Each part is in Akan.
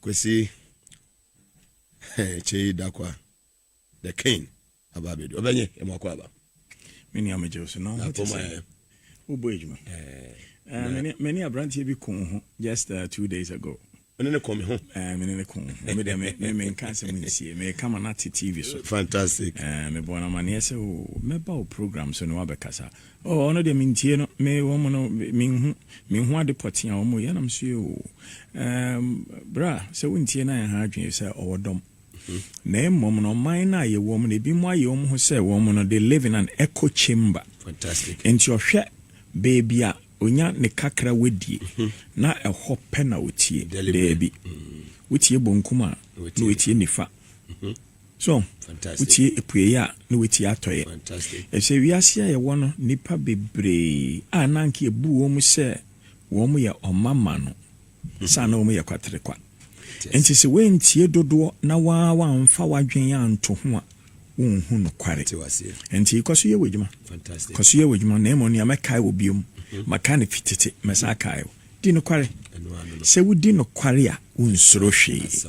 Kwesi, kyɛ yi da kwa, the king aba abɛdu ɔbɛnye ɛmu akɔ aba. Me nua megye wo so na ɔho te sɛ wobɔ adwuma. Me ne aberanteɛ bi koo ho just uh, two days ago. Mene ne kɔn me ho. Ɛɛ mene ne kɔn ho. Me deɛ me me me nka asɛm nsie. Me kama na te TV so. Fantastic. Ɛɛ me bɔ na maneɛ sɛ o oh, mɛba o program so na wabɛkasa. Oh ɔno deɛ mentie no me wɔn no menhu menhu ade pɔtee a wɔn yɛ na me so yɛ oo ehm bra sɛ wontie na ɛha adwene sɛ ɔwɔ dɔm na mmom no ɔman no a yɛwɔ mu no ebi mu ayɛ wɔn ho sɛ wɔn no they live in an echo chamber Fantastic. nti ɔhwɛ baabi a onya ne kakra wadie na ɛhɔ pɛ na otie Deliberate. daabi wotie bonkum a na Watie. watie nifa So wotie apuei a, na woatie atɔe. Efisɛ wiase a yɛwɔ no, nnipa bebree a na anka ebu wɔn sɛ wɔyɛ ɔmamma no, saa na wɔyɛ kwaterekwa. Enti sɛ woantie dodoɔ na woamfa w'adwene anto ho a, wonhu nokware. Enti kɔ so yɛ w'adwuma. Kɔ so yɛ w'adwuma. Na mmom nea mɛkae wo bio, maka no fi tete, mɛsan akae wo. Di nokware. Sɛ wodi nokware a, wonsuro hwee.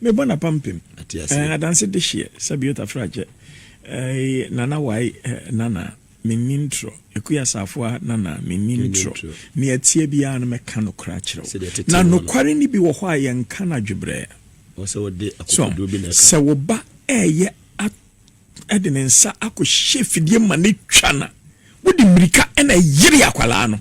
Me bɔ na pampem eh, adanse de hyeɛ sɛ biota fragye eh, nana wae eh, nana menni ntorɔ ɛku asafo a nana menni ntorɔ ne atie biara no mɛka nokorɛ akyerɛ wo na nokware no bi wɔ hɔ a yɛnka no adwebrɛ so sɛ wo ba ɛyɛ de ne nsa akɔhyɛ fidie ma no twa na wode mmirika na ɛyere akwadaa no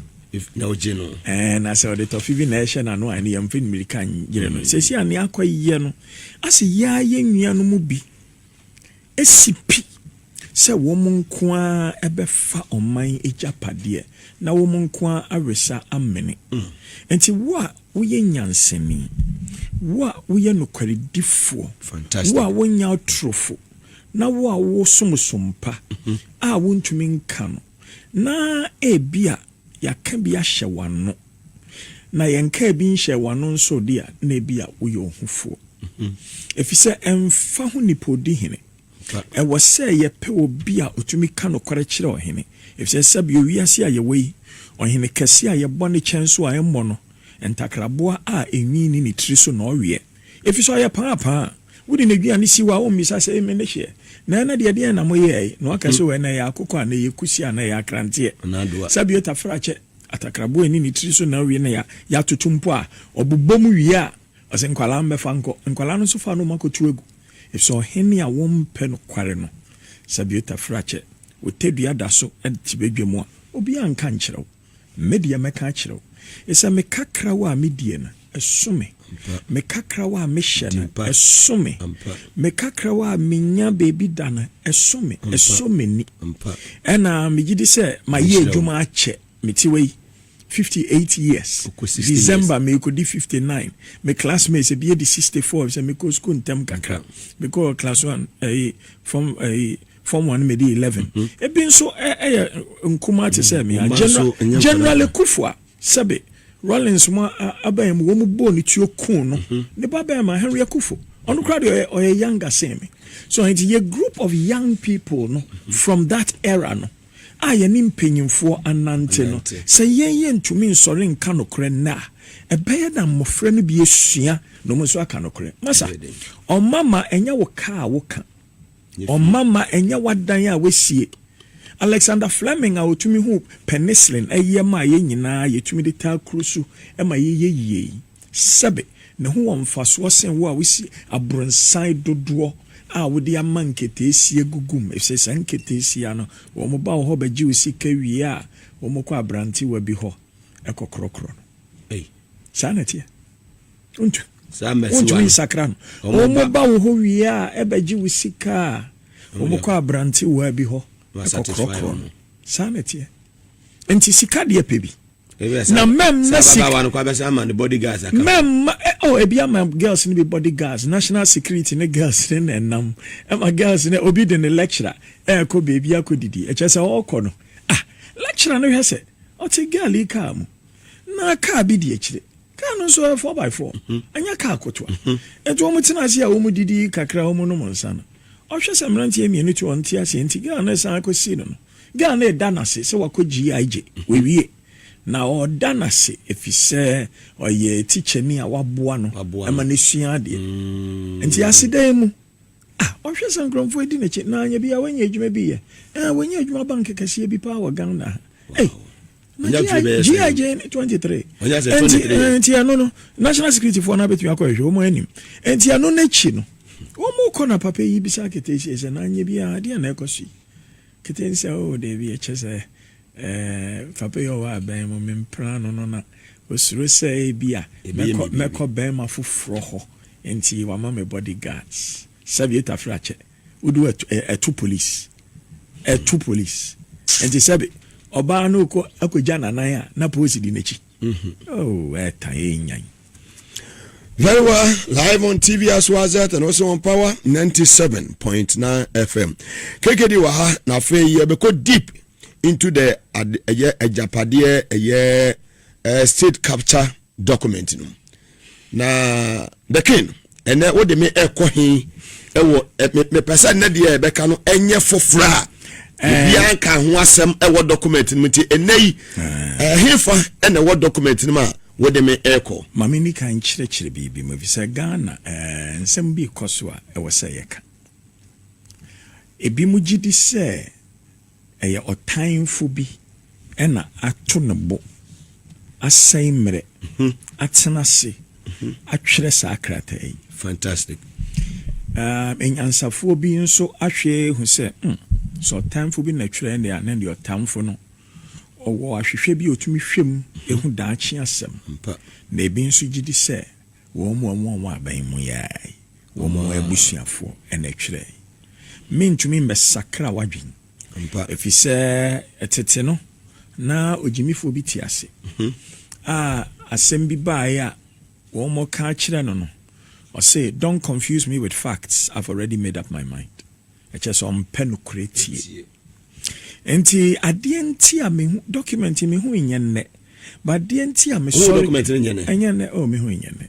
na ɔgye no ɛɛ na sɛ ɔde tɔfivi na ɛhyɛ n'ano a ɛne yɛn mfɛn mmirika nyere no mm. sɛsi a nea akɔ yɛ no asɛ yɛa yɛ nnua no mu bi esi pi sɛ wɔn nko ara ɛbɛfa ɔman agyapadeɛ na wɔn nko ara awesa amene mm. nti wo a woyɛ nyansani wo a woyɛ nokwaridifoɔ wo a wonya atorofo na wo a wowɔ som su mpa a wuntumi nka no, na ebia yɛaka bi ahyɛ w'ano, na yɛnkaa bi nhyɛɛ w'ano nso de a, na ebia woyɛ ohufoɔ. Efisɛ ɛmfa ho nipa odi hene, ɛwɔ sɛ yɛpɛ obi a otumi ka nokware kyerɛ ɔhene, efisɛ sɛbio wiase a yɛwɔ yi, ɔhene kɛse a yɛbɔ ne kyɛnso a ɛmmɔ no ntakraboa a enwi nni ne tiri so na ɔweɛ, Efisɛ ɔyɛ paapaa a, wode n'aduane si hɔ a wommisa sɛ, 'Amen no hyeɛ? Na ɛnnɛ deɛ, ɛdeɛn na moyɛɛe? Na waka sɛ, 'O, ɛnnɛ ɛyɛ akokɔ anaa ɛyɛ kusi anaa ɛyɛ akranteɛ. Sɛ bue tafrakyɛ, atakraboa a ɛnni ne tiri so na awe na yɛatoto mpo a, ɔbobɔ mu wie a, ɔse, 'Nkwadaa mmɛfa nkɔ. Nkwadaa no nso fa anoma kɔto agu. Efisɛ ɔhene a wɔmpɛ nokware no, sɛ bue tafrakyɛ, otadua da so te badwam a, obiara nka nkyerɛ wo. Me deɛ mɛka akyerɛ wo sɛ me kakrawa a medie no ɛso me, me kakrawa a mehyɛ no ɛso me, me kakrawa a menya baabi da no ɛso me, ɛsɔ m'ani. Ɛna megye di sɛ mayɛ adwuma akyɛ, mete wɔ yi 58 years, December merekɔdi 59, me classmates ebi adi 64 sɛ mekɔ school ntɛm kakra, mekɔɔ class one ɛyi form ɛyi. Form one medi eleven. Mhm. Ebi nso yɛ nkumaa te sɛ mmea. Mm, General Ekufu a sɛbe Rawlings mu abɛn mu wɔn bɔɔ ne tuo kun no. Mhm. Ne ba bɛn ma Henry Ekufu. Ɔno koraa deɛ ɔyɛ younger sen me. So nti yɛ group of young people no mhm. from that era no a yɛne mpanyinfoɔ anante no sɛ yɛn yɛ ntumi nsɔre nka nokorɛ nnɛ a ɛbɛyɛ na mmɔfra no bi asua na wɔn nso aka nokorɛ. Masa ɔma ma ɛnyɛ wo ka a woka. Ɔma ma ɛnyɛ w'adan a woasie. Alexander Fleming a otumi huu penicillin yɛ maa yɛn nyinaa a yetumi de taa kuru so ma yɛyɛ yiye yi. Sɛbe, ne ho wɔ mfasoɔ sen wo a wosi abronsan dodoɔ a wode ama nketeesia gu gu mu, efisɛ saa nketeesia no, wɔn ba wo hɔ bɛgye wo sika wie a, wɔkɔ abrantewa bi hɔ kɔkorɔkorɔ no. Ei, saa na ɛteɛ. wontumi nsakra no. Wɔba wo hɔ wie a, ɛbɛgye wo sika a, wɔkɔ aberantewaa bi hɔ kɔkorɔkorɔ no. Saa na ɛteɛ. Nti sika deɛ pɛ bi. Na mɛm na sika. Mɛm ma oh ebi ama girls no bi body guards national security ne girls ne na ɛnam ɛma girls ne obi de ne lecturer ɛɛkɔ beebi akɔ didi ɛkyɛ sɛ ɔɔkɔ no ah lecturer no hwɛ sɛ ɔte girl yi kaa mu na kaa bi di akyire. Kaa no nso yɛ four by four, ɛnyɛ kaa kotoa. Enti wɔn tena ase a wɔn didi kakra wɔn nom nsa no, ɔhwɛ sɛ mmeranteɛ mmienu te hɔ nte aseɛ nti girl no resan akɔ si no no, girl no reda no ase sɛ wakɔ GIJ, wawie. Na ɔreda no ase efisɛ ɔyɛ tikyani a waboa no ma no asua adeɛ. Enti aseda yi mu, ah, ɔhwɛ sɛ nkorɔmfoɔ redi n'akyi, na anyɛ biara wanya adwuma bi yɛ. Ɛɛ, wanya adwuma bank kɛseɛ bi paa wɔ Ghana ha. Ei! ɔnya fie bɛyɛ sɛ GIJ ne twenty three ɔnya sɛ twenty three yɛ nti ɛno no national security foɔ no abɛtumi akɔ ɛhwɛ wɔn anim nti ɛno n'akyi no wɔn kɔ na papa yi bisa keteesie sɛ n'anyɛ bi a adeɛ na ɛkɔ so yi ketee sɛ o oh, dɛbi ɛkyɛ sɛ ɛɛ eh, papa yi ɔwɔ abɛn mu mempra no no na osuro sɛ ebi a mɛkɔ mɛkɔ bɛrima foforɔ hɔ nti wama me body guards sɛbi etafra kyɛ. Wodu hɔ a, ɛto polisi. Ɛto polisi. Nti sɛbe ɔbaa no kɔ akɔgya n'anan a, na polisi di n'akyi. Oh, ɛtan yɛ nyan. Very well, live on TV as well as that, and also on Power 97.9 FM. KKD wɔ ha, na afei yɛbɛkɔ deep into the ɛyɛ agyapadeɛ ɛyɛ eh, state capture document no na the king ɛnɛ wode me ɛkɔ he ɛwɔ mepɛ sɛ nnɛ deɛ ɛbɛka no ɛnyɛ foforɔ a obiara nka ho asɛm ɛwɔ document no mu nti ɛnɛ yi ɛhefa ɛna ɛwɔ document no mu a wode me ɛkɔ ma me ni ka nkyerɛkyerɛ biribi mu ɛfiri sɛ ghana nsɛm bi kɔ so a ɛwɔ sɛ yɛka ebi mu gye di sɛ Ɛyɛ ɔtanfo bi na ato ne bo asɛe mmerɛ atena ase atwerɛ saa krataa yi. Fantastic. Aah anyansafoɔ bi nso ahwɛ ahu sɛ hmm, sɛ ɔtanfo bi na twerɛ ɛnneɛ a, na ɛnneɛ ɔtanfo no ɔwɔ ahwehwɛ bi a ɔtumi hwɛ mu ɛhu daakye asɛm. Ampa. Na ebi nso gyedi sɛ wɔn a wɔwɔ aban mu yi ara yi, Wɔn abusuafoɔ na ɛtwerɛɛe. Merentumi mmɛsakra w'adwene. Ɛfiri sɛ tete no, na ogyimifoɔ bi te ase a asɛm bi baeɛ a wɔreka akyerɛ no no, ɔse, Don't confuse me with facts, I've already made up my mind. Ɛkyerɛ sɛ ɔmpɛ nokorɛ tie. Nti adeɛ nti a mehu document yi mehu nyɛ nnɛ but adeɛ nti a mesɔre. Wohu document no nyɛ nnɛ? Ɛnyɛ nnɛ oh mehu nyɛ nnɛ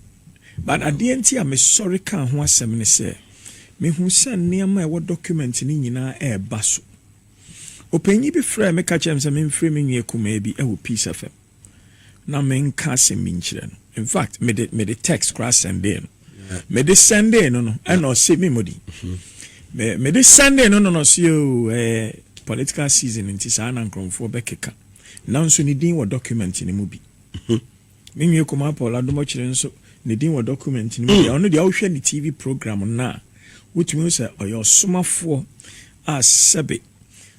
but adeɛ nti a mesɔre kaa ho asɛm ne sɛ mehu sɛ nneɛma a ɛwɔ document no nyinaa ɛɛba so. Ɔpanyin bi frɛɛ me ka kyerɛɛ me sɛ memfrɛ me nua kumaa bi ɛwɔ Peace FM. na me nka asɛm bi nkyerɛ no in fact me de me de text koraa sɛndee no me de sɛndee no no ɛna ɔse me mɔdi me me de sɛndee no no na ɔse oo ɛɛ political season nti saa na nkorɔmfoɔ bɛkeka nanso ne din wɔ document no mu bi me nwie kɔmaa Paul adomɔkyerɛ nso ne din wɔ document no mu bi ɔno deɛ wohwɛ ne TV program no a wotumi sɛ ɔyɛ ɔsomafoɔ a sɛbe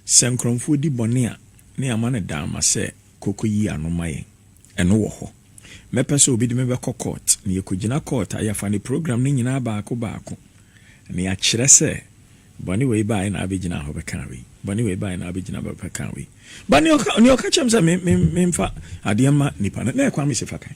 sɛ nkorɔmfoɔ di bɔne a ne ama no daama sɛ Kɔ kɔyi ano ma yɛn. Ɛno wɔ hɔ. Mɛpɛ sɛ obi de me bɛkɔ kɔɔt, na yɛkɔgyina kɔɔt a, yɛfa ne program no nyinaa baako baako, na yɛakyerɛ sɛ, Bɔne wei baeɛ na abɛgyinaa hɔ bɛkaa wei. Bɔne wei baeɛ na abɛgyinaa hɔ bɛkaa wei. But nea ɔka, nea ɔka kyerɛɛ me sɛ me, me, memfa adeɛ mma nnipa no, na ɛyɛ Kwame Sefa kan.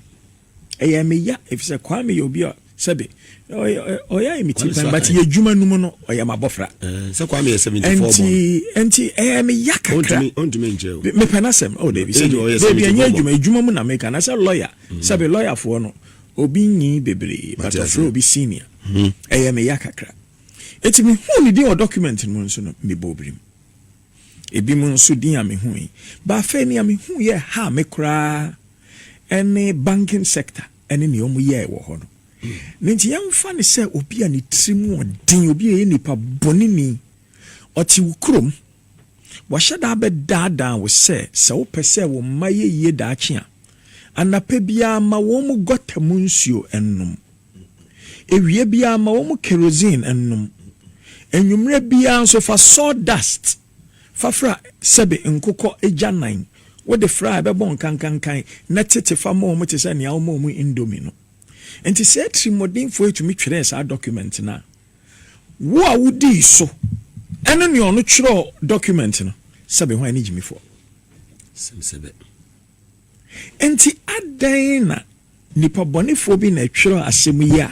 Ɛyɛ me ya efisɛ Kwame yɛ obi a sɛbe ɔyɛ ayɛ me ti pɛn but yɛ adwuma no mu no ɔyɛ m'abɔfra. Eh, sɛ Kwame yɛ 74 bɔ. Nti nti ɛyɛ me ya kakra. Ɔntumi nkyerɛ o. Mepɛ n'asɛm. Oh David sɛ David ɛnyɛ adwuma adwuma mu na meka na sɛ lawyer mm. sɛbe lawyerfoɔ no obi nyi bebree but ɔfrɛ obi senior. Mm-hmm. Ɛyɛ me ya kakra. Eti mehuu ne din wɔ document no mu nso no mebɔɔ birim. Ebinom nso din a mihui, but afei nea mihu yɛ haa me koraa ne banking sector ne nea wɔyɛe wɔ hɔ no. Ne nti yɛmfa no sɛ obi a ne tiri mu yɛ den, obi a ɔyɛ nipa bɔneni, ɔte wo kurom, wahyɛ da abɛdaadaa wo sɛ, sɛ wopɛ sɛ wo mma yɛ yie daakye a, anapa biara ma wɔn gɔta mu nsuo nnom. Awia biara ma wɔn kerosene nnom. Anwummere biara nso fa sawdust fa fra sɛbe nkokɔ agyanan. Wode fra a, ɛbɛbɔ nkankankan na tete fa ma wɔn te sɛ nea woma wɔn indomie no. Enti saa atirimɔdenfoɔ yi tumi twerɛɛ saa dɔkumɛnte no a wo a wodii so ne nea ɔno twerɛɛ dɔkumɛnte no, sɛbe hwan ne gyimifoɔ? Sɛm sɛbɛ. Enti adɛn na nipa bɔnefoɔ bi na ɛtwerɛ asɛm yi a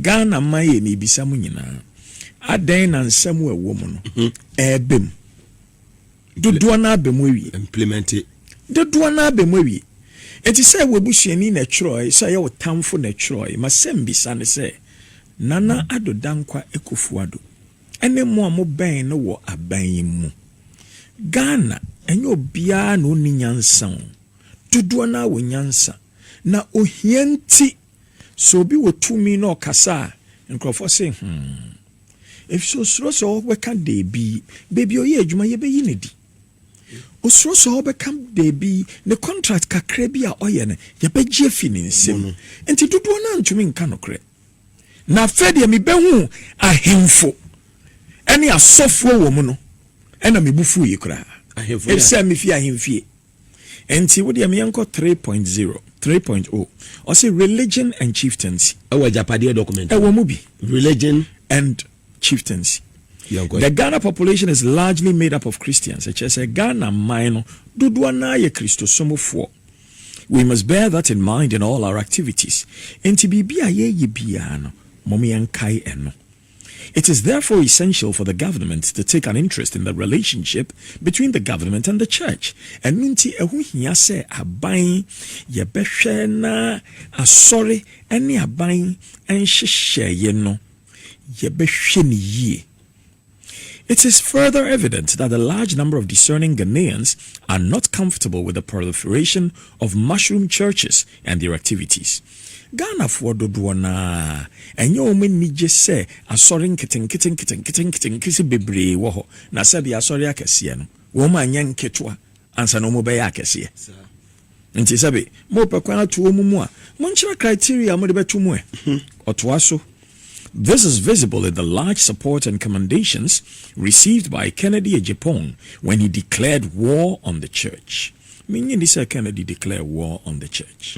Ghana man yɛ mebisa mo nyinaa adɛn na nsɛm a ɛwɔ mu no ɛɛbɛ mu dodoɔ no abɛ mu awie implemente dodoɔ no abɛ mu awie Enti sɛ ɛwɔ abusuani na ɛtwerɛ sɛ ɛyɛ ɔtamfo na ɛtwerɛ ma sɛm bisa ne sɛ Nana Addo Dankwa Akufo-Addo ɛne mo a mobɛn no wɔ aban yi mu Ghana ɛnyɛ obiara na ɔnni nyansa o, dodoɔ no ara wɔ nyansa na ohia nti sɛ obi wɔ tumi na ɔkasa a nkorɔfoɔ se hmm efisɛ osuro sɛ ɔbɛka deebi, baabi a ɔyɛ adwuma yɛbɛyi no adi, osuro sɛ ɔbɛka deebi ne contract kakra bi a ɔyɛ no yɛbɛgye afi ne nsam nti dodoɔ no ara ntumi nka nokorɛ. Na afei deɛ mebɛhuu ahemfo ne asɔfoɔ wɔ mu no, ɛna me bo fuiɛ koraa, Ahemfo yɛ- ɛfisɛ mefi ahemfie. Enti wo deɛ meɛnkɔ 3.0, 3.0, ɔse religion and chieftaincy, Ɛwɔ agyapadeɛ document mu. ɛwɔ mu bi, Religion. and chieftaincy. Yɛnkɔ. The Ghana population is largely made up of Christians, ɛkyerɛ sɛ Ghana man no dodoɔ no ara yɛ Kristosomfoɔ. We must bear that in mind in all our activities. Enti biribi a yɛyɛ biara no, mom yɛnkae ɛno. It is therefore essential for the government to take an interest in the relationship between the government and the church. Ɛno nti ɛho hia sɛ aban yɛbɛhwɛ na asɔre ne aban nhyehyɛeɛ no yɛbɛhwɛ no yie. It is further evident that the large number of discerning Ghanaians are not comfortable with the proliferation of mushroom churches and their activities. Ghanafoɔ dodoɔ no ara, ɛnyɛ wɔn ani gye sɛ asɔre nketenkete nketenkete nketenkete bebree wɔ hɔ, na sɛdeɛ asɔre akɛseɛ no, wɔn anyɛ nketewa ansa na wɔbɛyɛ akɛseɛ. Nti sɛbe mopɛ kwan ato wɔn mu a, monkyerɛ criteria a mode bɛto mu ɛ. Ɔtoa so, This is visible in the large support and commendations received by Kennedy Agyapong when he declared war on the church. Mennye nni sɛ Kennedy declare war on the church.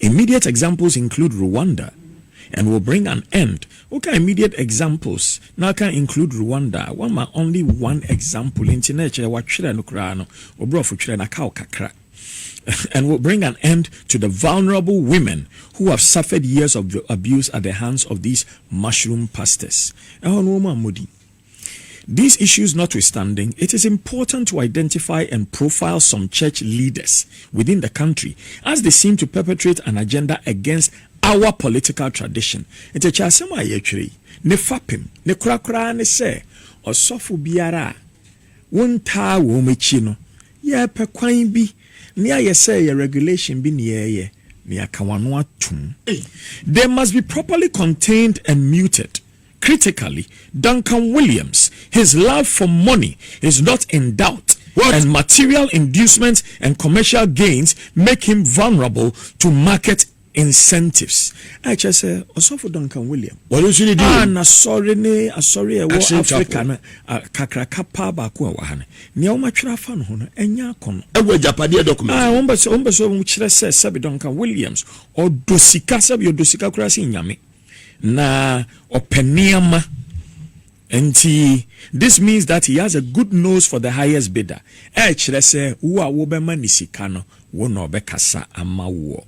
Immediate examples include Rwanda and will bring an end Woka immediate examples na aka include Rwanda a, woama only one example nti na ɛkyerɛ woatwerɛ no koraa no, wo borɔfo twerɛ no aka wo kakra. and will bring an end to the vulnerable women who have suffered years of abuse at the hands of these mushroom pastors. Ɛhɔ no wɔn ammɔ din. These issues notwithstanding, it is important to identify and profile some church leaders within the country as they seem to perpetrate an agenda against our political tradition. Ntekyɛasɛm a yɛretwerɛ yi, ne fapem, ne korakora ara ne sɛ ɔsɔfo biara a wontaa wɔn akyi no, yɛrepɛ kwan bi ne ayɛ sɛ ɛyɛ regulation bi ne yɛreyɛ ne yɛaka wɔn ano atom. They must be properly contained and muted. Critically, Duncan Williams, his love for money is not in doubt and material inducements and commercial gains make him vulnerable to market incentives. A Ɛkyerɛ sɛ ɔsɔfo Duncan William Wɔde nso ne din a wom. n'asɔre ne asɔre a ɛwɔ Action Africa Chapel. no a, kakraka paa baako a ɛwɔ ha no, nea wɔatwerɛ afa no ho no, ɛnyɛ akɔnnɔ. Ɛwɔ agyapadeɛ document Ah, mu. wɔn bɛ sɛ wɔn bɛ sɛ wɔn kyerɛ sɛ sɛbi Duncan Williams ɔdɔ sika sɛbi ɔdɔ sika koraa sen nyame. Na ɔpɛ nneɛma nti this means that he has a good nose for the highest bidder ɛkyerɛ sɛ wo a wobɛma ne sika no wo na ɔbɛkasa ama woɔ.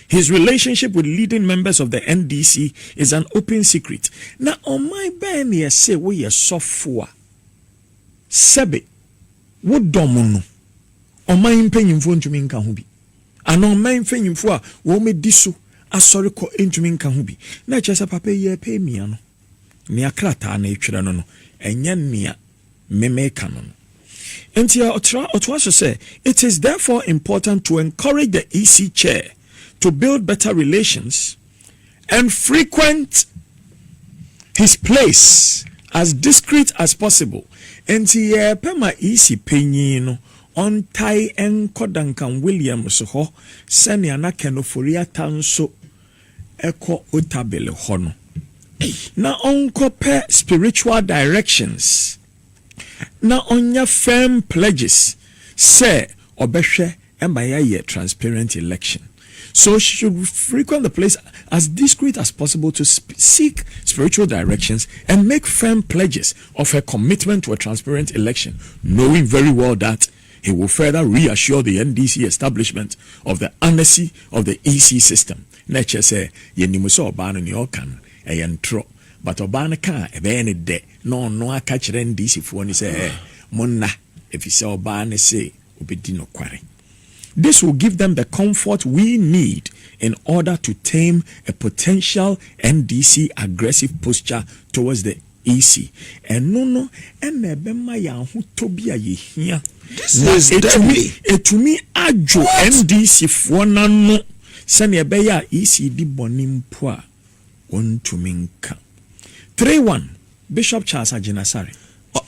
His relationship with leading members of the NDC is an open secret na ɔman bɛn na yɛse woyɛ sɔfo a sɛbe wodɔm no ɔman mpanyimfoɔ ntumi nka ho bi. Ana ɔman mpanyimfo a wɔadi so asɔre kɔ ntumi nka ho bi? Na ɛkyerɛ sɛ papa yi repɛ amia no. Nea krataa no rekyerɛ no no, ɛnyɛ nea me meka no no. Enti ɔtoa so sɛ, It is therefore important to encourage the EC Chair to build better relations, and frequent his place as discreet as possible, enti yɛpɛ ma EC panyin no ɔntae nkɔ Duncan Williams hɔ sɛnea na Ken Ofori-Atta nso kɔ Otabil hɔ no, na ɔnkɔpɛ spiritual directions. na ɔnya firm pledges sɛ ɔbɛhwɛ ma yɛayɛ transparent election. So she should frequent the place as discreet as possible to seek spiritual directions and make firm pledges of her commitment to a transparent election knowing very well that he will further reassure the NDC establishment of the anarchy of the EC system. Na ɛkyerɛ sɛ yɛnim sɛ ɔbaa no nea ɔka no ɛyɛ ntorɔ but ɔbaa no ka a ɛbɛyɛ no dɛ. Na ɔno aka kyerɛ Ndisifoɔ no sɛ, Ɛɛ, monna, ɛfiri sɛ ɔbaa no se ɔbɛdi nokware. This will give them the comfort we need in order to tame a potential NDC aggressive posture towards the EC. Ɛno no na ɛbɛma yɛn ahotɔ bi a yɛhia, na ɛtumi, ɛtumi adwo NDCfoɔ no ano sɛdeɛ ɛbɛyɛ a EC di bɔne mpo a, wɔntumi nka. Three one, Bishop Charles Agyinasare.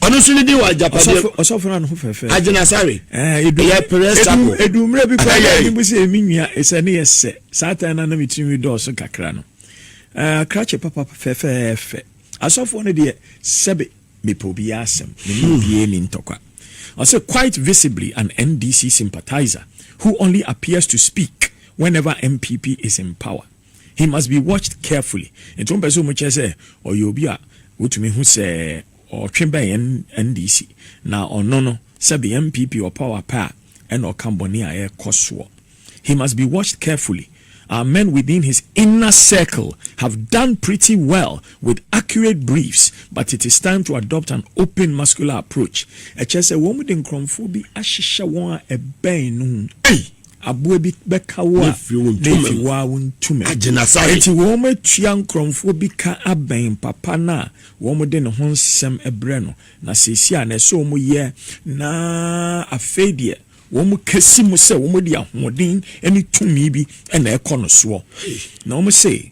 Ɔno nso ne din wɔ agyapadeɛ. Ɔsɔfo na ne ho fɛfɛ. Agyinasare. Ɛyɛ pere sako. Edu mmerɛ bi kɔ ɛyɛ mu sɛ emi nua ɛsɛ ne yɛ sɛ saa tan na nam etiri mi dɔɔso kakra no. Akrakye papa fɛfɛɛfɛ. Asɔfoɔ no deɛ sɛbe mepɛ obiara asɛm mene hmm. obiara ni ntɔkwa. Ɔsɛ quite visibly an NDC sympathizer who only appears to speak whenever MPP is in power. He must be watched carefully. Nti wɔn pɛ sɛ wɔn kyerɛ sɛ ɔyɛ obi a wotumi hu sɛ ɔtwe bɛn yɛn NDC na ɔno no sɛbi yɛn NPP ɔpaw apɛ a ɛna ɔka bɔne a ɛkɔ soɔ. He must be watched carefully. Our men within his inner circle have done pretty well with accurate briefs but it is time to adopt an open muscular approach. Ɛkyerɛ sɛ wɔn de nkorɔmfoɔ bi ahyehyɛ wɔn a ɛbɛn no ho. Ei! Aboa bi bɛka wo a, Nephi, wo ara wontu me. Enti wɔatua nkorɔmfoɔ bi ka abɛn papa no a wɔde ne ho nsɛm brɛ no, na seesei a na ɛsɛ sɛ wɔyɛ, na afei deɛ wɔkasi mu sɛ wɔde ahoɔden ne tumi bi na ɛkɔ no soɔ. Na wɔse.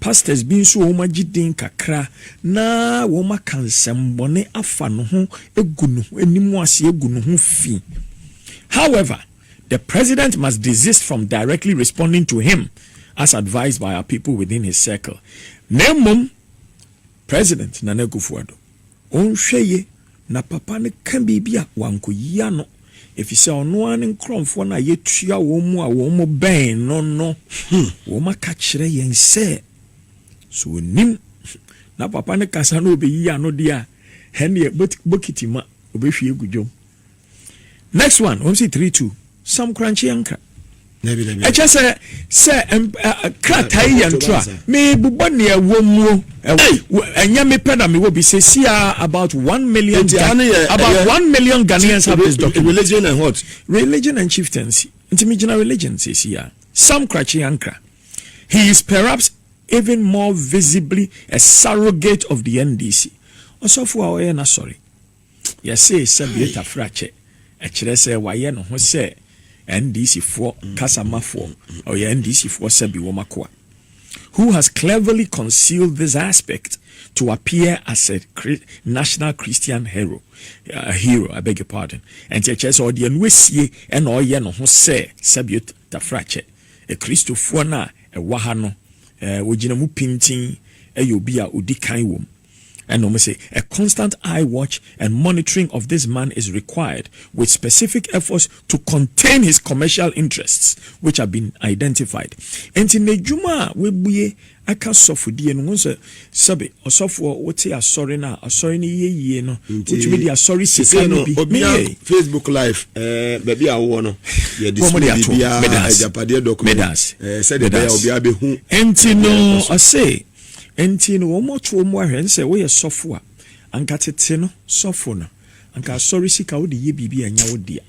Pastors bi nso wɔ hɔ agye din kakra na wɔaka nsɛmmɔne afa ne ho agu ne ho anim ase agu ne ho fi. However, the president must desist from directly responding to him as advised by our people within his circle. Na mmom, President Nana Akuffo Addo, ɔnhwɛ ye na papa no ka biribi a wankɔyi ano, efisɛ ɔno ara ne nkorɔmfoɔ no a yɛtua wɔn mu a wɔn mo bɛn no no, wɔn aka kyerɛ yɛn sɛ, sɛ ɔnim na papa no kasa na ɔbɛyi ano deɛ a, ɛnneɛ bokiti ma ɔbɛhwie agu dwom. Next one, wɔn si three two. Sam Korankye yɛn nka. Ɛkyɛ sɛ sɛ krataa yi yɛ ntora. Mebobɔ nea ɛwɔ muo. Ɛnyɛ me pɛ na mewɔ bi sɛ si a about one million. About one million Ghanaians have this document. Religion and what? Religion and chieftaincy. Nti me gyina religion sɛ si a. Sam Korankye yɛn nka. He is perhaps even more visibly a surrogate of the NDC. Ɔsɔfo a ɔyɛ na sorry. Yɛse Sabieta Frakyɛ, ɛkyerɛ sɛ wayɛ ne ho sɛ NDC foɔ kasa ma foɔ, ɔyɛ NDC foɔ Sabi wɔn akoa who has cleverly concealed this aspect to appear as a national Christian hero, a hero, I beg your pardon. Ɛnti ɛkyerɛ sɛ ɔde ɛno asie ɛna ɔyɛ ne ho sɛ Sabieta Frakyɛ, Kristofoɔ no a ɛwɔ ha no, wɔgyina mu pintinn, ɛyɛ obi a ɔdi kan wɔ mu. Ɛna ɔmo se, A constant eye watch and monitoring of this man is required with specific efforts to contain his commercial interests which have been identified. Enti n'adwuma a w'abue aka sɔfodie no, wohu sɛ sɛbe ɔsɔfoɔ wote asɔre no a asɔre no yɛ yie no, wotumi de asɔre sika no bi ne yɛ. Facebook live ɛɛ baabi a wowɔ no yɛ display biribiara agyapadeɛ document ɛɛ sɛdeɛ ɛbɛyɛ obiara bɛhu. Enti no ɔse. Enti no wɔmɔto wo mmoa hwɛ nsɛ woyɛ sɔfo a anka tete no sɔfo no anka asɔre sika wode yɛ biribi a ɛnyɛ wo dea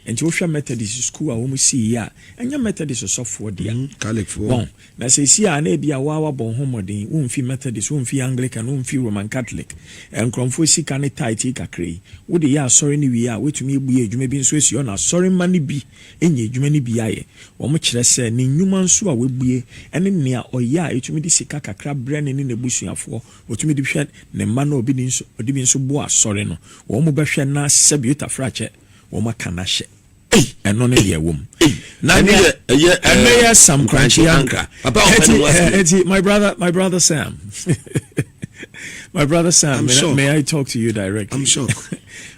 enti wohwɛ Methodist sukuu a wɔn sii yɛ a ɛnyɛ Methodist sɔfoɔ dea wɔn na sesie a na ebia woa wabɔ wo ho mmɔden womfi Methodist womfi Anglican womfi Roman Catholic nkorɔmfoɔ sika ne tithe yi kakra yi wode yɛ asɔre no wie a woatumi abue adwuma bi nso asi hɔ na asɔre mma no bi anya adwuma no bi ayɛ. Wɔkyerɛ sɛ ne nnwuma nso a wabue ne nea ɔyɛ a etumi de sika kakra brɛ ne ne n'abusuafoɔ. Otumi de bi hwɛ ne mma na ɔde bi nso boa asɔre no. Wɔbɛhwɛ na sɛbe Otafere akyɛ, wɔaka no ahyɛ. Ei, ɛno ne deɛ ɛwom. Na ɛno yɛ ɛyɛ ɛno yɛ Sam Korankye Ankrah. Papa ɔpɛ ne wɔ ase. Eti my brother my brother Sam. my brother Sam, I'm may, shocked. may I talk to you directly? I'm shocked.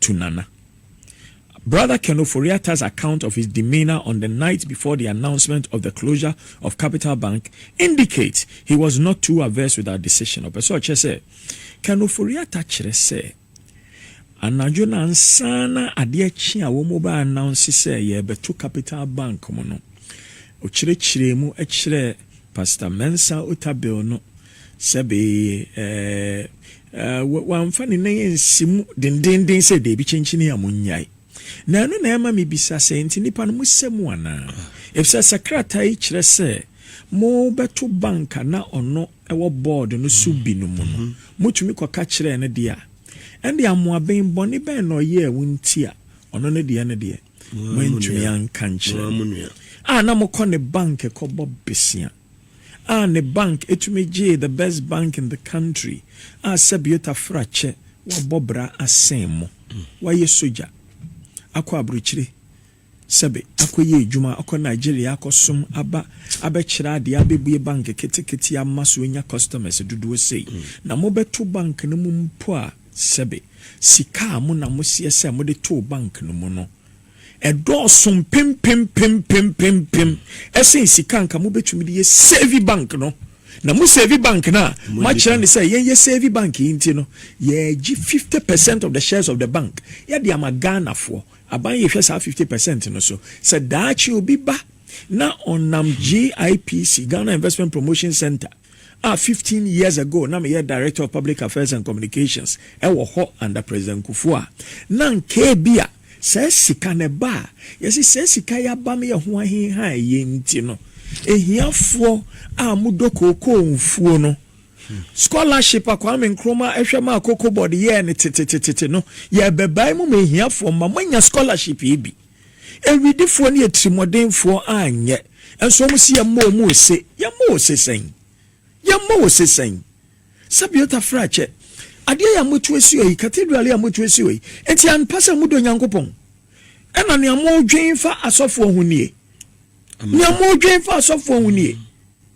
to Nana. Brother Ken Ofori-Atta's account of his demeanour on the night before the announcement of the closure of Capital Bank indicates he was not too averse with our decision. Ɔpɛ sɛ ɔkyerɛ sɛ, Ken Ofori-Atta kyerɛ sɛ, anadwo no ansa na adeɛ kye a wɔbɛ announce sɛ yɛrebɛto Capital Bank mu no, ɔkyerɛkyerɛɛ mu kyerɛɛ Pastor Mensah Otabil no Sɛbe, ɛɛ, ɛ, wamfa ne nan ansi mu dendeenden sɛ, Dabi, kyenkyenee a munnyae. Na ɛno na ɛma mibisa sɛ, Enti nnipa no, mosɛ mu anaa? Efisɛ sɛ krataa yi kyerɛ sɛ mobɛto bank a na ɔno wɔ bɔɔd no so bi no mu no, mutumi kɔka kyerɛɛ no de a, ɛnde amoaben bɔne bɛn na ɔyɛɛ wo nti a ɔno ne deɛ no deɛ, moantumi anka nkyerɛ no? A na mokɔ ne bank kɔbɔ bosea. a ne bank tumi gyee the best bank in the country a sɛbio tafra kyɛ wabɔ bra asɛn mu wayɛ sogya akɔ abrokyire sɛbe akɔ yɛ adwuma akɔ Nigeria akɔ som aba abɛkyerɛ adeɛ abɛbue bank ketekete ama so anya customers dodoɔ sei na mobɛto bank no mu mpo a sɛbe sika a mo na moseɛ sɛ mode too bank no mu no Ɛdɔɔso mpempempempempempem ɛsen sika anka mo bɛtumi de yɛ save bank no. Na mo save bank no a mo akyerɛ ne sɛ yɛn yɛ save bank yi nti no yɛgye 50 percent of the shares of the bank yɛde ama Ghana foɔ aban yɛhwɛ saa 50 percent no so sɛ daakye obi ba na ɔnam GIPC Ghana Investment Promotion Center a fifteen years ago na meyɛ Director of Public Affairs and Communications wɔ hɔ under President Kufuor a, na anka ebia saa sika no ɛba a, yɛse saa sika yi aba no yɛ ho ahe ha a ɛyɛ nti no, ahiafoɔ a wɔdɔ kookoo mfuo no, scholarship a Kwame Nkrumah ɛhwɛ maa Cocoa Board yɛɛ no tetetetete no, yɛrebɛbae mu ma ahiafoɔ mma moanya scholarship yi bi. Awidifoɔ ne atirimuɔdenfoɔ anyɛ, nso wɔn se yɛmmɔ wɔn ose. Yɛmmɔ wo se sɛn? Yɛmmɔ wo se sɛn? Sabiota Frakyɛ, adeɛ yi a moatu asi hɔ yi, cathedral yi a moatu asi hɔ yi, enti ampa sɛ modɔ Nyankopɔn? Ɛna nea modwen fa asɔfoɔ ho nie? Nea modwen fa asɔfoɔ ho nie?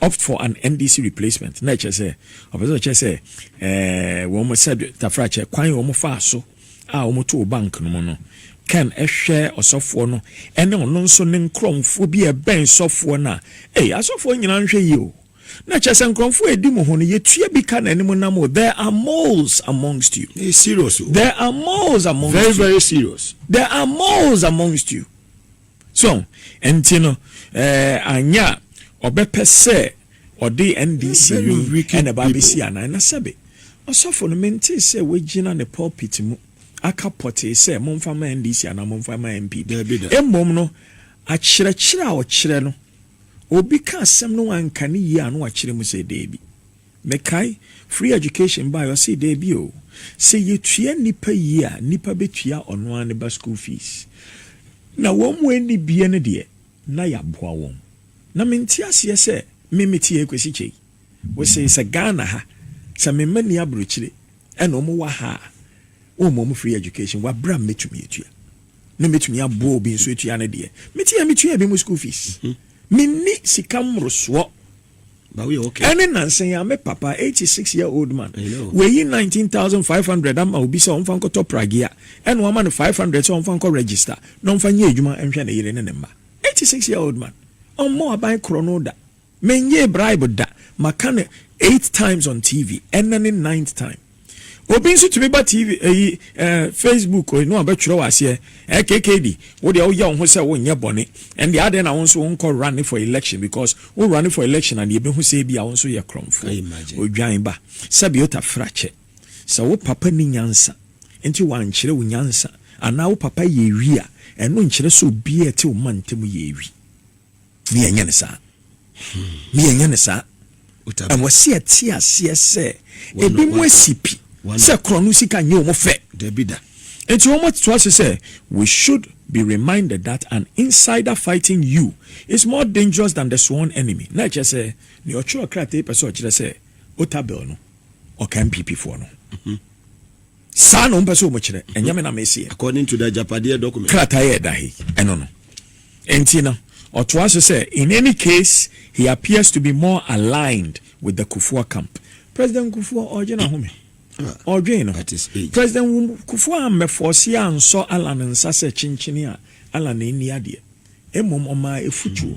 Opt for an MDC replacement, na ɛkyerɛ sɛ ɔpɛ sɛ ɔkyerɛ sɛ wɔn sɛ tafrakyɛ kwan a wɔn faa so a wɔn too bank no mu no can ɛhwɛ ɔsɔfoɔ no ɛne ɔno nso ne nkorɔmfoɔ bi a ɛbɛn sɔfoɔ no a ee asɔfoɔ nyinaa nhwɛ yie o na ɛkyerɛ sɛ nkorɔmfoɔ a ɛdi mu ho no yɛtua bi ka na anim nam o there are moles amongst you it's serious o there are moles amongst very you very serious there are moles amongst you So ɔho? Ɛnti no ɛɛ anyɛ a ɔbɛpɛ sɛ ɔde NDC wei ɛna ɛba abɛsi anaa? Na sɛbe ɔsɔfo no mentee sɛ wagyina ne pulpit mu aka pɔtee sɛ momfa ma NDC anaa momfa ma NPP. Mmom no akyerɛkyerɛ a ɔkyerɛ no obi ka asɛm no anka ne yie a na wakyerɛ mu sɛ deebi. Mekae, free education baeɛ ɔsee daabi oo, sɛ yɛtua nnipa yie a nnipa bɛtua ɔno ara ne ba school fees. Na wɔn a ɛnni bie no deɛ na yɛaboa wɔn. Na mente aseɛ sɛ me mete ha yi kɔsi kyɛ yi. Wosee sɛ Ghana ha, sɛ me mma nni aburokyire ɛna wɔn wɔ ha a, wɔmma wɔn free education wɔ aberɛ a mɛtumi atua. Na mɛtumi aboa obi nso atua ne deɛ. Mete ha metua ebinom school fees. Menni sika mmorosoɔ. Ɛne nansa yi a me papa, 86 year old man, wayi 19,500 ama obi sɛ ɔmfa nkɔtɔ pragea, ɛna wama no 500 sɛ ɔmfa nkɔ register na ɔmfa nyɛ adwuma nhwɛ ne yere ne ne mma. 86 year old man, ɔmmɔ aban korɔno da, mengyee bribe da, maka no eight times on TV, ɛnnɛ ne ninth time. Obi nso tumi ba TV ɛyi ɛɛ Facebook ɛyi no a bɛtwerɛ wɔ aseɛ ɛɛ KKD wo deɛ woyɛ wo ho sɛ wonyɛ bɔne ɛnde adɛn na wo nso wonkɔ run for election because wo run for election a deɛ ɛbɛhu sɛ ebi a wo nso yɛ korɔmfoɔ odwan ba sɛbi otafra kyɛ sɛ wo papa ni nyansa nti wankyerɛ wo nyansa anaa wo papa yɛ ewi a ɛno nkyerɛ sɛ obiara ɛte wo mantam yɛ ewi. Me yɛn nyɛ no saa. Me yɛn nyɛ no saa. Ɛwɔ sɛ yɛte aseɛ sɛ ebi mu asi pi sɛ korɔno sika nyɛ wɔn fɛ. Dabi da. Nti wɔn atoa so sɛ we should be reminded that an insider fighting you is more dangerous than the sworn enemy. Na ɛkyerɛ sɛ nea ɔtwerɛ krataa yi pɛ sɛ ɔkyerɛ sɛ Otabil no ɔka NPP foɔ no ho. Saa na wɔpɛ sɛ wɔkyerɛ, ɛnyɛ me na meseɛ. According to the agyapadeɛ document. Krataa a ɛda ha yi, ɛno no. Enti no, ɔtoa so sɛ, In any case, he appears to be more aligned with the Kufuor camp. President Kufuor, ɔregye n'ahome. Ɔredwen no. President Kufuor ammɛfɔɔse ansɔ Allan nsa sɛ kyenkyene a Allan nni adeɛ. Mmom, ɔmaa afutuo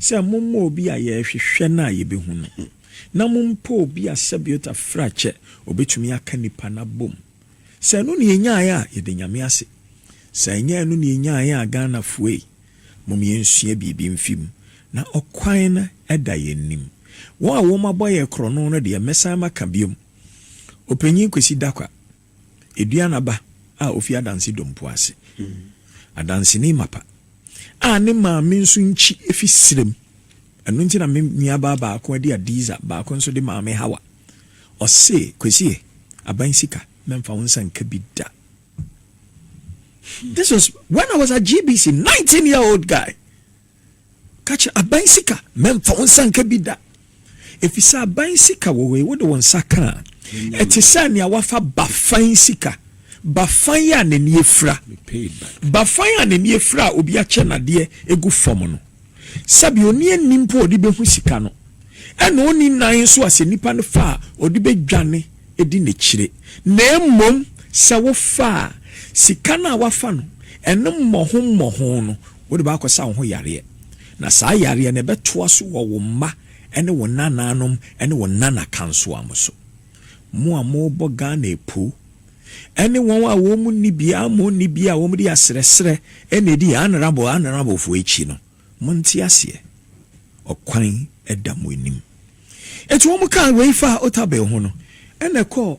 sɛ, Mommɔ obi a yɛrehwehwɛ no a yɛbɛhu no. na mo mpo obi a sɛbiota firi akyɛ ɔbɛtumi aka nnipa no abom. Sɛ ɛno na yɛnyaeɛ a, yɛda Nyame ase. Sɛ anyɛ ɛno na yɛnyaeɛ a, Ghanafoɔ ei, mom yɛnsua biribi mfiri mu, na ɔkwan no da yɛn anim. Wɔn a wɔabɔ yɛn korɔno no deɛ, mɛsan maka biom. Ɔpanyin Kwesi Dakwah. Aduanaba a ofi adanse dompo ase. Adanseni mapa a ne maame nso nkyi fi serem. Ɛno nti na me nuabaa baako de Adiza, baako nso de Maame Hawa. Ɔse, Kwasie, aban sika, mɛmfa wo nsa nka bi da. This was when I was at GBC, 19 year old guy. Ka kyerɛ aban sika mɛmfa wo nsa nka bi da, efisɛ aban sika wɔ hɔ yi, wode wo nsa ka a, ɛte sɛ nea woafa bafan sika, bafan a n'ani afura, bafan a n'ani afura a obi akyɛ n'adeɛ agu fam no. Sɛbi onni ani mpo a ɔde behu sika no, ɛna onni nan nso a sɛ nipa no fa a, ɔde bedwane adi n'akyire. Na mmom sɛ wofa a, sika no a woafa no, ɛno mmɔho mmɔho no, Wode bɛakɔsa wo ho yareɛ, na saa yareɛ no ɛbɛtoa so wɔ wo mma ne wo nanaanom ne wo nanakansoa mo so. Mo a mobɔ Ghana apuu, ɛne wɔn a wɔn mu nni biara mmɔ nni bi a wɔde asrɛsrɛ na ɛdi Honourable Honourable foɔ akyi no, monte aseɛ. Ɔkwan da mo anim. Enti wɔkaa wei faa Otabil ho no, ɛna ɛkɔɔ.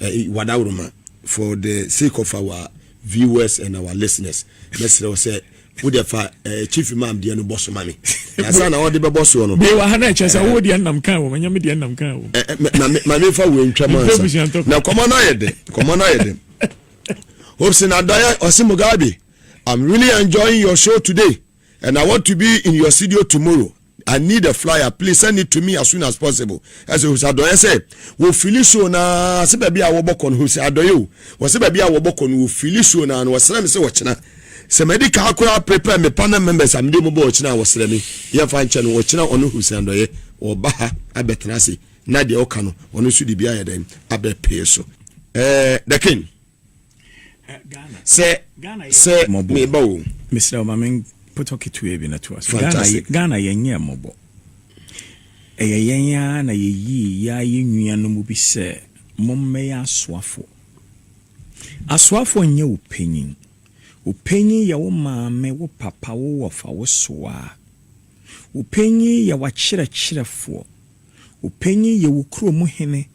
eh, Wadawuruma, for the sake of our viewers and our listeners, mɛsrɛ wo sɛ wode fa eh, chief imam deɛ no bɔ so ma me ansa na wɔde bɛbɔ soɔ no bewa ha na ɛkyɛ sɛ wowɔ deɛ nam kan wɔ manya me deɛ nam kan wɔ eh, eh, ma mefa wei ntwam ansa na nkɔmmɔ no ayɛ dɛ nkɔmmɔ no ayɛ dɛ hopsin adɔyɛ ɔse mugabe i'm really enjoying your show today And I want to be in your studio tomorrow I need a flyer please send it to me as soon as possible ɛsɛ hwɛ sɛ adɔyɛ sɛ wɔfili show na sɛ baabi a wɔbɔkɔ no hwɛ sɛ adɔyɛ o wɔ sɛ baabi a wɔbɔkɔ no wɔfili show na no wɔsrɛ me sɛ wɔkyena sɛ madi kaa koraa prepare me panel members a mede mu bɔ ɔkyena a wɔsrɛ me yɛmfa nkyɛ no wɔkyena ɔno hwɛ sɛ adɔyɛ wɔba ha abɛtena ase na deɛ ɔka no ɔno nso de bi ayɛ dɛn abɛpee so ɛɛ eh, the king sɛ sɛ meba o mesrɛ wo ma me mpɔtɔ ketewa bi na to aso Ghana, Ghana yɛnyɛ mmɔbɔ ɛyɛ yɛn ara na yɛyii yɛ a yɛ nua no mu bi sɛ mommɛyɛ asoafo asoafo nyɛ wo panyin wo panyin yɛ wo maame wo papa wo wɔfa wo soaa wo panyin yɛ wakyerɛkyerɛfoɔ Wo panyin yɛ wo kurom hene